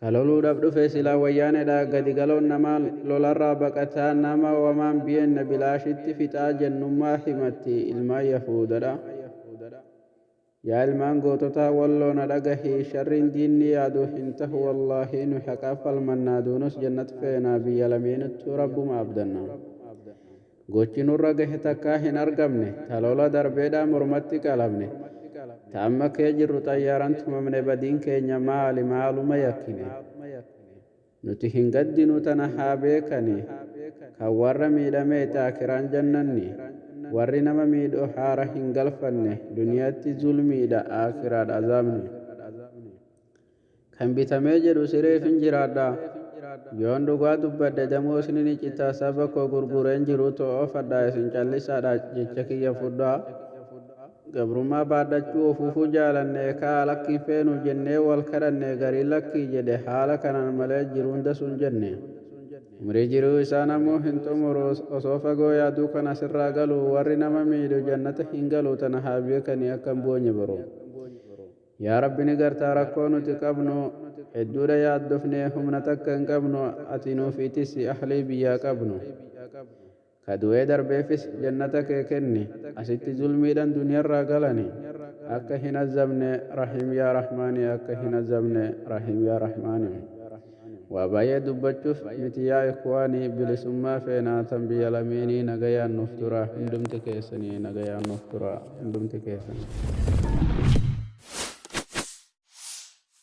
Ka loluudhaf dhufe silaa wayyaanedha gadi galoon namaa lolarraa baqataa nama wamaan biyeenna bilaashitti fixaa jennummaa himatti ilmaan yahuudadha yaa ilmaan goototaa walloo na dhagahii sharriin diinni yaadu hin tahu wallaahii nuyi haqaaf falmannaa duunus jannat feenaa biyya lameenittuu rabbuma abdanna Gochi nurra gahe takkaa hin argamne, ta lola darbeedhaa mormatti qalamne, ta amma kee jirru xayyaaran tumamne badiin keenya maali maaluma yakkine? Nuti hin gaddinu tana haa beekani, kan warra miidhamee ta akiraan jannanni, warri nama miidhu haara hin galfanne, duniyatti zulmiidha aakiraadha azaabni. Kan bitamee jedhu sireefin jiraadha. Yoon dhugaa dubbadhe damoosni ni cita saba koo gurgureen jiru to'oofadha isin callisaadha jecha kiyya fudhaa. Gabrummaa baadhachuu ofuufuu jaalanne kaa lakki hin feenu jennee wal kadhanne gariin lakkii jedhe haala kanaan malee jiruun dasu hin jenne. Umrii jiruu isaa namuu hin xumuru osoo fagoo yaaduu kan asirraa galu warri nama miidhu jannata hin galu tana haa beekani akka hin boonye boruu. Yaa Rabbi ni gartaa rakkoo nuti qabnu hedduudha yaaddofnee humna takka hin qabnu ati nuufi tisi ahlii biyyaa qabnu ka du'ee darbeefis jannata kee kenni asitti zulmiidhan duniyarraa galani akka hin azzabne rahiim yaa rahmaani akka hin azzabne rahiim yaa rahmaani. Waa baay'ee dubbachuf miti yaa ikhwaani bilisummaa feenaa tan biyya lameenii nagayaan nuuf turaa hundumti keessanii nagayaan nuuf turaa hundumti keessanii.